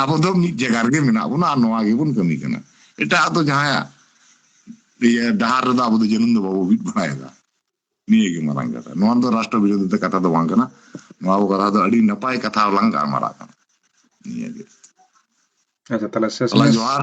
ᱟᱵᱚ ᱫᱚ ᱢᱤᱫ ᱡᱟᱭᱜᱟ ᱨᱮᱜᱮ ᱢᱮᱱᱟᱜ ᱵᱚᱱᱟ ᱟᱨ ᱱᱚᱣᱟ ᱜᱮᱵᱚᱱ ᱠᱟᱹᱢᱤ ᱠᱟᱱᱟ ᱮᱴᱟᱜ ᱫᱚ ᱡᱟᱦᱟᱸᱭᱟᱜ ᱤᱭᱟᱹ ᱰᱟᱦᱟᱨ ᱨᱮᱫᱚ ᱟᱵᱚ ᱫᱚ ᱡᱟᱹᱱᱩᱢ ᱫᱚ ᱵᱟᱵᱚ ᱵᱤᱫ ᱵᱟᱲᱟᱭᱮᱫᱟ ᱱᱤᱭᱟᱹ ᱜᱮ ᱢᱟᱨᱟᱝ ᱠᱟᱛᱷᱟ ᱱᱚᱣᱟ ᱫᱚ ᱨᱟᱥᱴᱨᱚ ᱵᱤᱨᱳᱫᱷᱤ ᱫᱚ ᱠᱟᱛᱷᱟ ᱫᱚ ᱵᱟᱝ ᱠᱟᱱᱟ ᱱᱚᱣᱟ ᱠᱚ ᱠᱟᱛᱷᱟ ᱫᱚ ᱟᱹᱰᱤ ᱱᱟᱯᱟᱭ ᱠᱟᱛᱷᱟ ᱞᱟᱝ ᱜᱟᱞᱢᱟᱨᱟᱜ ᱠᱟᱱᱟ ᱱᱤᱭᱟᱹ ᱜᱮ ᱟᱪᱪᱷᱟ ᱛᱟᱦᱞᱮ ᱥᱮᱥ ᱢᱮᱥ ᱡᱚᱦᱟᱨ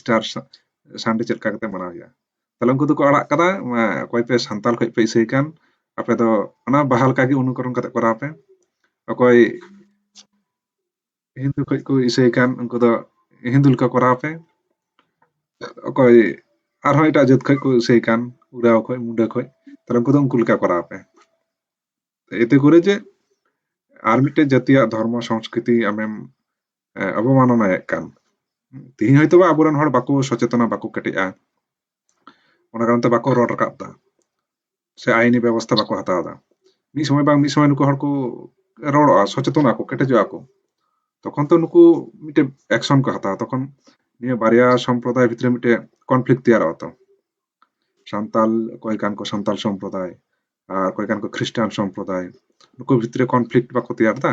ᱥᱴᱟᱨ ᱥᱟᱱᱰᱮ ᱪᱮᱫ ᱞᱮᱠᱟ ᱠᱟᱛᱮ ᱢᱟᱱᱟᱣ ᱦᱩᱭᱩᱜᱼᱟ ᱛᱟᱦᱞᱮ ᱩᱱᱠᱩ ᱫᱚᱠᱚ ᱟᱲᱟᱜ ᱠᱟᱫᱟ ᱚᱠᱚᱭ ᱯᱮ ᱥᱟᱱᱛᱟᱲ ᱠᱷᱚᱡ ᱯᱮ ᱤᱥᱟᱹᱭ ᱠᱟᱱ ᱟᱯᱮ ᱫᱚ ᱚᱱᱟ ᱵᱟᱦᱟ ᱞᱮᱠᱟ ᱜᱮ ᱚᱱᱩᱠᱚᱨᱚᱱ ᱠᱟᱛᱮ ᱠᱚᱨᱟᱣ ᱯᱮ ᱚᱠᱚᱭ ᱦᱤᱱᱫᱩ ᱠᱷᱚᱡ ᱠᱚ ᱤᱥᱟᱹᱭ ᱠᱟᱱ ᱩᱱᱠᱩ ᱫᱚ ᱦᱤᱱᱫᱩ ᱞᱮᱠᱟ ᱠᱚᱨᱟᱣ ᱯᱮ ᱚᱠᱚᱭ ᱟᱨᱦᱚᱸ ᱮᱴᱟᱜ ᱡᱟᱹᱛ ᱠᱷᱚᱡ ᱠᱚ ᱤᱥᱟᱹᱭ ᱠᱟᱱ ᱩᱨᱟᱣ ᱠᱷᱚᱡ ᱢᱩᱰᱟᱹ ᱠᱷᱚᱡ ᱛᱟᱦᱞᱮ ᱩᱱᱠᱩ ᱫᱚ ᱩᱱᱠᱩ ᱞᱮᱠᱟ ᱠᱚᱨᱟᱣ ᱯᱮ ᱮᱛᱮ ᱠᱚᱨᱮ ᱡᱮ ᱟᱨ ᱢᱤᱫᱴᱮᱡ ᱡᱟᱹᱛᱤᱭᱟᱜ ᱫᱷᱚᱨᱢᱚ ᱥᱚᱝᱥᱠᱨᱤᱛᱤ ᱟᱢᱮᱢ ᱚᱵᱚᱢᱟᱱᱚᱱᱟᱭᱮᱫ ᱠᱟᱱ ᱛᱮᱦᱮᱧ ᱦᱚᱭᱛᱳ ᱵᱟ ᱟᱵᱚᱨᱮᱱ ᱦᱚᱲ ᱵᱟᱠᱚ ᱥᱚᱪᱮᱛᱚᱱᱟ ᱵᱟᱠᱚ ᱠᱮᱴᱮᱡᱼᱟ ᱚᱱᱟ ᱠᱟᱨᱚᱱ ᱛᱮ ᱵᱟᱠᱚ ᱨᱚᱲ ᱨᱟᱠᱟᱵ ᱫᱟ ᱥᱮ ᱟᱭᱤᱱᱤ ᱵᱮᱵᱚᱥᱛᱷᱟ ᱵᱟᱠᱚ ᱦᱟᱛᱟᱣ ᱫᱟ ᱢᱤᱫ ᱥᱚᱢᱚᱭ ᱵᱟᱝ ᱢᱤᱫ ᱥᱚᱢᱚᱭ ᱱᱩᱠᱩ ᱦᱚᱲ ᱠᱚ ᱨᱚᱲᱚᱜᱼᱟ ᱥᱚᱪᱮᱛᱚᱱᱚᱜᱼᱟ ᱠᱚ ᱠᱮᱴᱮᱡᱚᱜᱼᱟ ᱠᱚ ᱛᱚᱠᱷᱚᱱ ᱛᱚ ᱱᱩᱠᱩ ᱢᱤᱫᱴᱮᱡ ᱮᱠᱥᱚᱱ ᱠᱚ ᱦᱟᱛᱟᱣᱟ ᱛᱚᱠᱷᱚᱱ ᱱᱤᱭᱟᱹ ᱵᱟᱨᱭᱟ ᱥᱚᱢᱯᱨᱚᱫᱟᱭ ᱵᱷᱤᱛᱨᱤ ᱢᱤᱫᱴᱮᱡ ᱠᱚᱱᱯᱷᱞᱤᱠᱴ ᱛᱮᱭᱟᱨᱚᱜᱼᱟ ᱛᱚ ᱥᱟᱱᱛᱟᱞ ᱚᱠᱚᱭ ᱠᱟᱱ ᱠᱚ ᱥᱟᱱᱛᱟᱞ ᱥᱚᱢᱯᱨᱚᱫᱟᱭ ᱟᱨ ᱚᱠᱚᱭ ᱠᱟᱱ ᱠᱚ ᱠᱷᱨᱤᱥᱴᱟᱱ ᱥᱚᱢᱯᱨᱚᱫᱟᱭ ᱱᱩᱠᱩ ᱵᱷᱤᱛᱨᱤ ᱠᱚᱱᱯᱷᱞᱤᱠᱴ ᱵᱟᱠᱚ ᱛᱮᱭᱟᱨ ᱫᱟ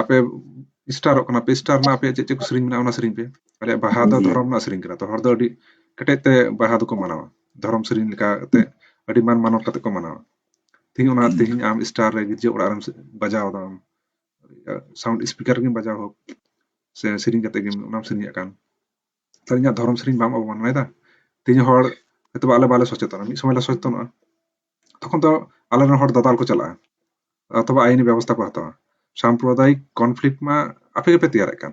ᱟᱯᱮ ᱥᱴᱟᱨᱚᱜ ᱠᱟᱱᱟ ᱯᱮ ᱥᱴᱟᱨ ᱨᱮᱱᱟᱜ ᱟᱯᱮᱭᱟᱜ ᱪᱮᱫ ᱪᱮᱫ ᱠᱚ ᱥᱮᱨᱮᱧ ᱢᱮᱱᱟᱜᱼᱟ ᱚᱱᱟ ᱥᱮᱨᱮᱧ ᱯᱮ ᱟᱞᱮᱭᱟᱜ ᱵᱟᱦᱟ ᱫᱚ ᱫᱷᱚᱨᱚᱢ ᱨᱮᱱᱟᱜ ᱥᱮᱨᱮᱧ ᱠᱟᱱᱟ ᱛᱚ ᱦᱚᱲ ᱫᱚ ᱟᱹᱰᱤ ᱠᱮᱴᱮᱡ ᱛᱮ ᱵᱟᱦᱟ ᱫᱚᱠᱚ ᱢᱟᱱᱟᱣᱟ ᱫᱷᱚᱨᱚᱢ ᱥᱮᱨᱮᱧ ᱞᱮᱠᱟᱛᱮ ᱟᱹᱰᱤ ᱢᱟᱱ ᱢᱟᱱᱚᱛ ᱠᱟᱛᱮ ᱠᱚ ᱢᱟᱱᱟᱣᱟ ᱛᱮᱦᱤᱧ ᱚᱱᱟ ᱛᱮᱦᱤᱧ ᱟᱢ ᱥᱴᱟᱨ ᱨᱮ ᱜᱤᱨᱡᱟᱹ ᱚᱲᱟᱜ ᱨᱮᱢ ᱵᱟᱡᱟᱣ ᱫᱟᱢ ᱥᱟᱣᱩᱱᱰ ᱥᱯᱤᱠᱟᱨ ᱜᱮᱢ ᱵᱟᱡᱟᱣ ᱦᱳᱠ ᱥᱮ ᱥᱮᱨᱮᱧ ᱠᱟᱛᱮ ᱜᱮᱢ ᱚᱱᱟᱢ ᱥᱮᱨᱮᱧᱮᱫ ᱠᱟᱱ ᱛᱟᱦᱞᱮ ᱤᱧᱟᱹᱜ ᱫᱷᱚᱨᱚᱢ ᱥᱮᱨᱮᱧ ᱵᱟᱢ ᱚᱵᱚᱢᱟᱱᱱᱟᱭᱮᱫᱟ ᱛᱮᱦᱤᱧ ᱦᱚᱲ ᱦᱚᱭᱛᱳ ᱟᱞᱮ ᱵᱟᱞᱮ ᱥᱚᱪᱮᱛᱚᱱᱟ ᱢᱤᱫ ᱥᱚᱢᱚᱭ ᱞᱮ ᱥᱚᱪᱮᱛᱚᱱᱚᱜᱼᱟ ᱛᱚᱠᱷᱚᱱ ᱫᱚ ᱟᱞᱮ ᱨᱮᱱ ᱦᱚᱲ ᱫᱟᱫᱟᱞ ᱠᱚ ᱪᱟᱞᱟᱜᱼᱟ ᱚᱛᱷᱚᱵᱟ ᱟᱭᱤᱱᱤ ᱵᱮᱵᱚᱥᱛᱷᱟ ᱠᱚ ᱦᱟᱛᱟᱣᱟ ᱥᱟᱢᱯᱨᱚᱫᱟᱭᱤᱠ ᱠᱚᱱᱯᱷᱞᱤᱠᱴ ᱢᱟ ᱟᱯᱮ ᱜᱮᱯᱮ ᱛᱮᱭᱟᱨᱮᱫ ᱠᱟᱱ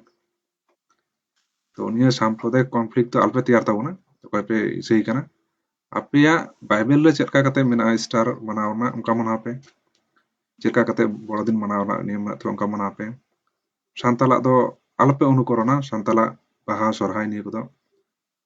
ᱛᱚ ᱱᱤᱭᱟᱹ ᱥᱟᱢᱯᱨᱚᱫᱟᱭᱤᱠ ᱠᱚᱱᱯᱷᱞᱤᱠᱴ ᱫᱚ ᱟᱞᱯᱮ ᱛᱮᱭᱟᱨ ᱛᱟᱵᱚᱱᱟ ᱚᱠᱚᱭ ᱯᱮ ᱤᱥᱟᱹᱭ ᱠᱟᱱᱟ ᱟᱯᱮᱭᱟᱜ ᱵᱟᱭᱵᱮᱞ ᱨᱮ ᱪᱮᱫ ᱞᱮᱠᱟ ᱠᱟᱛᱮ ᱢᱮᱱᱟᱜᱼᱟ ᱥᱴᱟᱨ ᱢᱟᱱᱟᱣ ᱨᱮᱱᱟᱜ ᱚᱱᱠᱟ ᱢᱟᱱᱟᱣ ᱯᱮ ᱪᱮᱫ ᱞᱮᱠᱟ ᱠᱟᱛᱮ ᱵᱚᱲᱚ ᱫᱤᱱ ᱢᱟᱱᱟᱣ ᱨᱮᱱᱟᱜ ᱱᱤᱭᱚᱢ ᱢᱮᱱᱟᱜ ᱛᱟᱯᱮ ᱚᱱᱠᱟ ᱢᱟᱱᱟᱣ ᱯᱮ ᱥᱟᱱᱛᱟᱞᱟᱜ ᱫᱚ ᱟᱞᱚᱯᱮ ᱚᱱᱩᱠᱚᱨᱚᱱᱟ ᱥᱟᱱᱛᱟᱞᱟᱜ ᱵᱟᱦᱟ ᱥᱚᱨᱦᱟᱭ ᱱᱤᱭᱟᱹ ᱠᱚᱫᱚ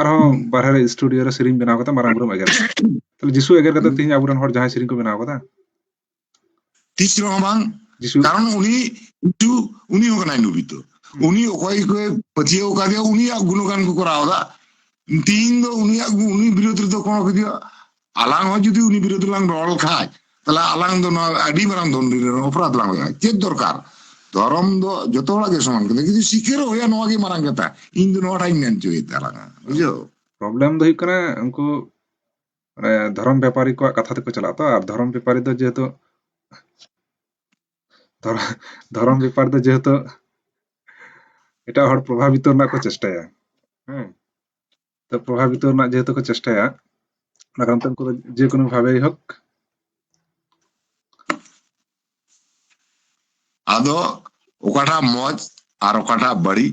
ᱟᱨᱦᱚᱸ ᱵᱟᱨᱦᱮ ᱨᱮ ᱥᱴᱩᱰᱤᱭᱳ ᱨᱮ ᱥᱮᱨᱮᱧ ᱵᱮᱱᱟᱣ ᱠᱟᱛᱮ ᱢᱟᱨᱟᱝ ᱵᱩᱨᱩᱢ ᱮᱜᱮᱨ ᱛᱟᱦᱞᱮ ᱡᱤᱥᱩ ᱮᱜᱮᱨ ᱠᱟᱛᱮ ᱛᱮᱦᱮᱧ ᱟᱵᱚᱨᱮᱱ ᱦᱚᱲ ᱡᱟᱦᱟᱸᱭ ᱥᱮᱨᱮᱧ ᱠᱚ ᱵᱮᱱᱟᱣ ᱠᱟᱫᱟ ᱛᱤᱥ ᱨᱮᱦᱚᱸ ᱵᱟᱝ ᱡᱤᱥᱩ ᱠᱟᱨᱚᱱ ᱩᱱᱤ ᱡᱤᱥᱩ ᱩᱱᱤ ᱦᱚᱸ ᱠᱟᱱᱟᱭ ᱱᱩᱵᱤ ᱫᱚ ᱩᱱᱤ ᱚᱠᱚᱭ ᱠᱚ ᱯᱟᱹᱛᱭᱟᱹᱣ ᱠᱟᱫᱮᱭᱟ ᱩᱱᱤᱭᱟᱜ ᱜᱩᱱᱚᱜᱟᱱ ᱠᱚ ᱠᱚᱨᱟᱣ ᱫᱟ ᱛᱤᱦᱤᱧ ᱫᱚ ᱩᱱᱤᱭᱟᱜ ᱩᱱᱤ ᱵᱤᱨᱩᱫᱽ ᱨᱮᱫᱚ ᱠᱚᱱᱚ ᱠᱤᱪᱷᱩ ᱟᱞᱟᱝ ᱦᱚᱸ ᱡᱩᱫᱤ ᱩᱱᱤ ᱵᱤᱨᱩᱫᱷ ᱞᱟᱝ ᱨᱚᱲ ᱠᱷᱟᱡ ᱛᱟᱦᱞᱮ ᱟᱞᱟᱝ ᱫᱚ ᱱᱚᱣᱟ ᱟᱹᱰᱤ ᱢᱟᱨᱟᱝ ᱫᱷᱚᱱᱰᱤ ᱨᱮ ᱚᱯᱨᱟᱫᱷ ᱞᱟᱝ ᱞᱟᱜᱟᱜᱼᱟ ᱪᱮᱫ ᱫᱚᱨᱠᱟᱨ ᱫᱷᱚᱨᱚᱢ ᱫᱚ ᱡᱚᱛᱚ ᱦᱚᱲᱟᱜ ᱜᱮ ᱥᱚᱢᱟᱱ ᱠᱟᱱᱟ ᱡᱩᱫᱤ ᱥᱤᱠᱟᱹᱨ ᱦᱩᱭᱟ ᱱᱚᱣᱟ ᱜᱮ ᱢᱟᱨᱟᱝ ᱠᱟᱛᱷᱟ ᱤᱧ ᱫᱚ ᱱᱚᱣᱟ ᱴᱟᱜ ᱢᱮᱱ ᱦᱚᱪᱚᱭᱮᱫ ᱛᱟᱞᱟᱝᱟ ᱵᱩᱡᱷᱟᱹᱣ ᱯᱨᱚᱵᱞᱮᱢ ᱫᱚ ᱦᱩᱭᱩᱜ ᱠᱟᱱᱟ ᱩᱱᱠᱩ ᱢᱟᱱᱮ ᱫᱷᱚᱨᱚᱢ ᱵᱮᱯᱟᱨᱤ ᱠᱚᱣᱟᱜ ᱠᱟᱛᱷᱟ ᱛᱮᱠᱚ ᱪᱟᱞᱟᱜᱼᱟ ᱛᱚ ᱟᱨ ᱫᱷᱚᱨᱚᱢ ᱵᱮᱯᱟᱨᱤ ᱫᱚ ᱡᱮᱦᱮᱛᱩ ᱫᱷᱚᱨᱚᱢ ᱵᱮᱯᱟᱨ ᱫᱚ ᱡᱮᱦᱮᱛᱩ ᱮᱴᱟᱜ ᱦᱚᱲ ᱯᱨᱚᱵᱷᱟᱵᱤᱛᱚ ᱨᱮᱱᱟᱜ ᱠᱚ ᱪᱮᱥᱴᱟᱭᱟ ᱦᱮᱸ ᱛᱚ ᱯᱨᱚᱵᱷᱟᱵᱤᱛᱚ ᱨᱮᱱᱟᱜ ᱡᱮᱦᱮᱛᱩ ᱠᱚ ᱪᱮᱥᱴᱟᱭᱟ ᱚᱱᱟ ᱠᱟᱨᱚᱱ ᱛᱮ ᱩᱱᱠᱩ ᱫᱚ ᱡᱮ ᱠᱳᱱᱳ ᱵᱷᱟᱵᱮ ᱦᱳᱠ ᱟᱫᱚ ᱚᱠᱟᱴᱟᱜ ᱢᱚᱡᱽ ᱟᱨ ᱚᱠᱟᱴᱟᱜ ᱵᱟᱹᱲᱤᱡ